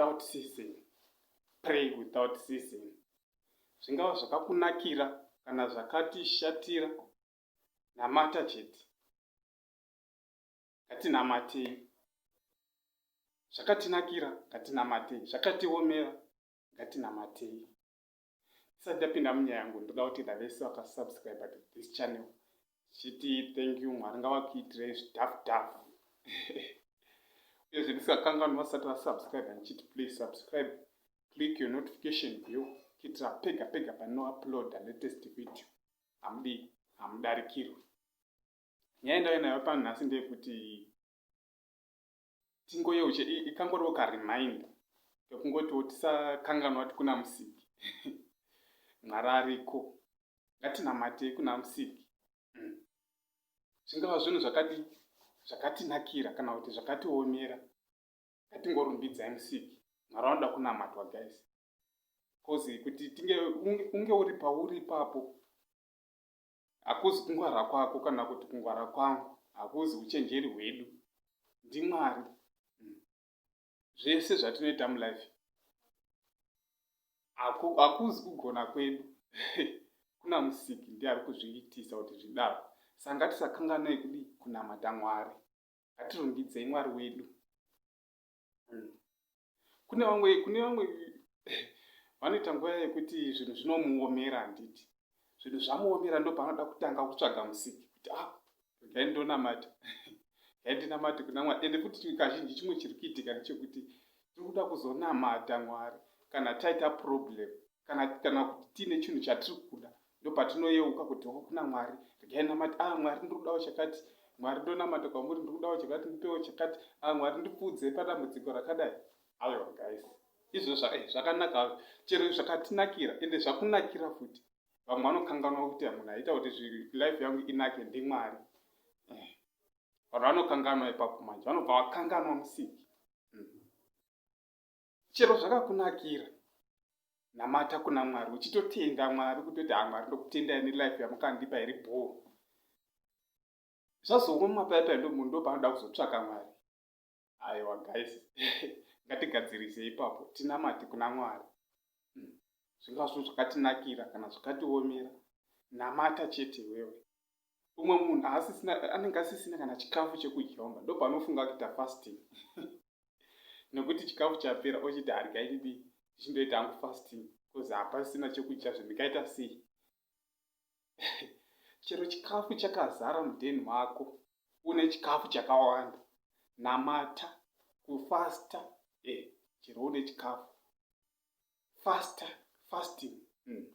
without ceasing pray without ceasing zvingava zvakakunakira kana zvakatishatira namata chete ngatinamatei zvakatinakira ngatinamatei zvakatiomera ngatinamatei tisati tapinda munyaya yangu ndoda kutenda vese vakasubscribe to this channel tichiti thank you mwari ngavakuitirei zvidhafu dhafu uyezve ndisingakanganwi vasati vasubscribe ndichiti please subscribe click your notification bell kuitira pega pega panouploada latest video hamudi hamudarikirwe nyaya ndave nayo pano nhasi ndeyekuti tingoyeuche ikangoriwo karemind kekungotiwo tisakanganwa kuti kuna musiki mwari ariko ngatinamatei kuna musiki mm. zvingava mm. zvinhu zvakati zvakatinakira kana kuti zvakatiomera ngatingorumbidzai musiki mwari anoda kunamatwa guys bcause kuti tinge unge uri pauri ipapo Hakuzi kungwara kwako kana kuti kungwara kwangu, hakuzi uchenjeri hwedu, ndiMwari. Hmm. Zvese zvatinoita mulife hakuzi kugona kwedu kuna musiki ndiye ari kuzviitisa kuti zvidaro saka ngatisakanganei kudii kunamata mwari hatirumbidzei mwari wedu kune vamwe kune vamwe vanoita nguva yekuti zvinhu zvinomuomera handiti zvinhu zvamuomera ndo paanoda kutanga kutsvaga musiki kuti a ah, regai ndonamata regai ndinamate kuna mwari ende futi kazhinji chimwe chiri kuitika ndechekuti tiri kuda kuzonamata mwari kana taita problem kana kana kuti tiine chinhu chatiri kuda ndopatinoyeuka kuti ho kuna mwari regai namati a ah, mwari ndiri kudawo chakati mwari ndonamata kwamuri ndiri kudawo chakati ndipewo chakati a ah, mwari ndipfuudzei padambudziko rakadai aiwa guys izvo eh, zvakanaka hazvo chero zvakatinakira ende zvakunakira futi vamwe vanokanganwa kuti munhu aita kuti life yangu inake ndimwari eh, vanhu vanokanganwa ipapo manje vanobva vakanganwa musiki chero zvakakunakira namata kuna mwari uchitotenda mwari kutoti hamwari ah, ndokutendai nelife yamukandipa iri bhoo zvazongo mumapaipai ndo munhu ndopanoda kuzotsvaka mwari aiwa guys ngatigadzirise ipapo tinamati kuna mwari hmm, zvingazvo zvakatinakira kana zvakatiomera namata chete wewe umwe munhu asisina anenge asisina kana chikafu chekudya umba ndopanofunga kuita fasting nekuti chikafu chapera ochiti haryai didi zvichindoita hangu fasting bcause hapasina chekudya zvendikaita sei chero chikafu chakazara mudheni mako une chikafu chakawanda namata kufasta e eh, chero une chikafu fasta fasting mm.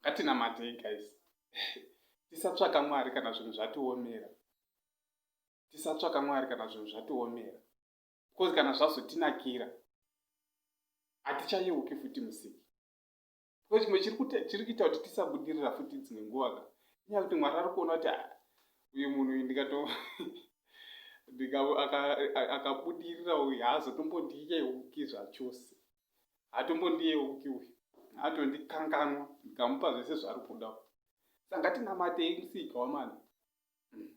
Ngatinamatei guys. Tisatsvaka Mwari kana zvinhu zvatiomera. Tisatsvaka Mwari kana zvinhu zvatiomera. Because kana zvazotinakira hatichayeuki futi musiki. Because chimwe chiri kuita kuti tisabudirira futi dzimwe nguva ka. Inyaya kuti Mwari ari kuona kuti ah, uyu munhu uyu ndikato ndikaakabudirira uyu haazotombondiyeuki zvachose. haatombondiyeuki uyu atondikanganwa ndikamupa zvese zvaari kuda sa ngatinamatei musika wamana hmm.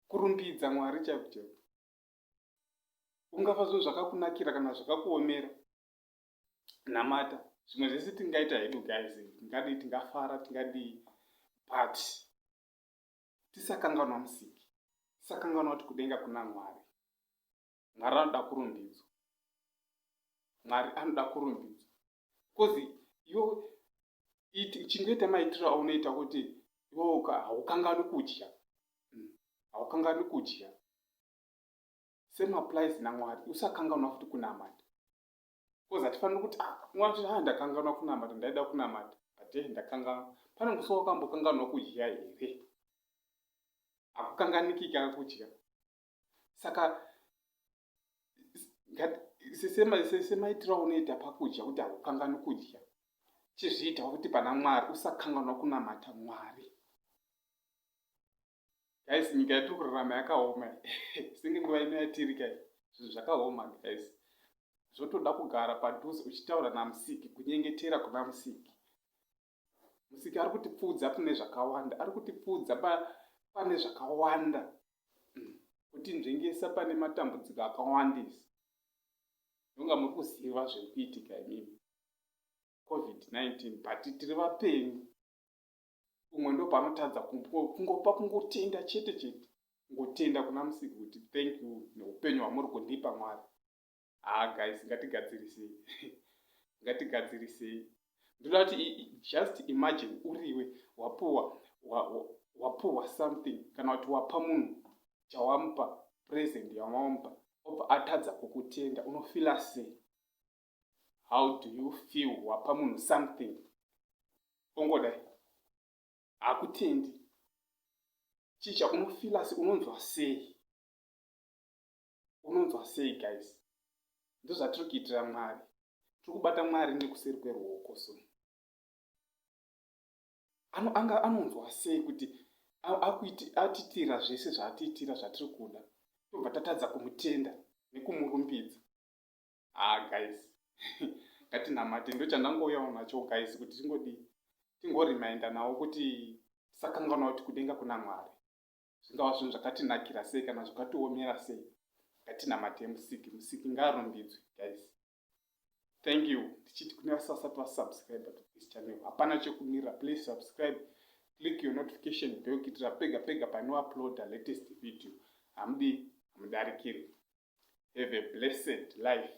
kurumbidza mwari chaiko chaiko ungafa zvinhu zvakakunakira kana zvakakuomera namata zvimwe zvese tingaita hedu guys tingadii tingafara tingadii but tisakanganwa musiki tisakanganwa kuti kudenga kuna mwari mwari anoda kurumbidzwa mwari anoda kurumbidzwa bcause yo chingoita maitiro aunoita kuti iwoka haukangani kudya hmm, haukangani kudya same applies namwari usakanganwa futi kunamata bcause hatifaniri kuti ah, mwari ha ah, ndakanganwa kunamata ndaida kunamata but eh, ndakanganwa pane musi wakambokanganwa kudya here akukanganikika kudya saka sesemaitiro aunoita pakudya kuti hakukanganwi kudya chizviitawo kuti pana mwari usakanganwa kunamata mwari guys nyika yatiri kurarama yakaoma senge nguva ino yatiri kai zvinhu zvakaoma guys zvotoda kugara padhuze uchitaura namusiki kunyengetera kuna musiki Musiki ari kutipfuudza pane zvakawanda, ari kutipfuudza pane zvakawanda, mm. kutinzvengesa pane matambudziko akawandisa. Ndonga muri kuziva zviri kuitika imimi covid-19 but tiri vapenyu umwe ndo panotadza kungopa kungotenda chete chete kungotenda kuna musiki kuti thank you neupenyu hwamuri kundipa mwari haa ah, guys ngatigadzirisei ngatigadzirisei ndoda kuti just imagine uriwe wapuwa wapuwa something kana kuti wapa munhu chawamupa present yamamupa obva atadza kukutenda unofila sei how do you feel wapa munhu something ongodai hakutendi chii chaunofila sei unonzwa sei unonzwa sei guys ndozvatiri kuitira mwari tiri kubata mwari nekuseri kweruoko so ano anga anonzwa sei kuti akuiti atitira zvese zvaatiitira zvatiri kuda tobva tatadza kumutenda nekumurumbidza ah guys ngatinamate ndochandangouyawo nacho guys kuti tingodii tingorimainda nawo kuti tisakanganwa kuti kudenga kuna mwari zvingava zvinhu zvakatinakira sei kana zvakatiomera sei ngatinamate musiki musiki ngaarumbidzwe guys thank you ndichiti kune vasasati vasubscribe to this channel hapana chekumirira please subscribe click your notification bell kuitira pega pega panouploada latest video hamudi hamudarikiri have a blessed life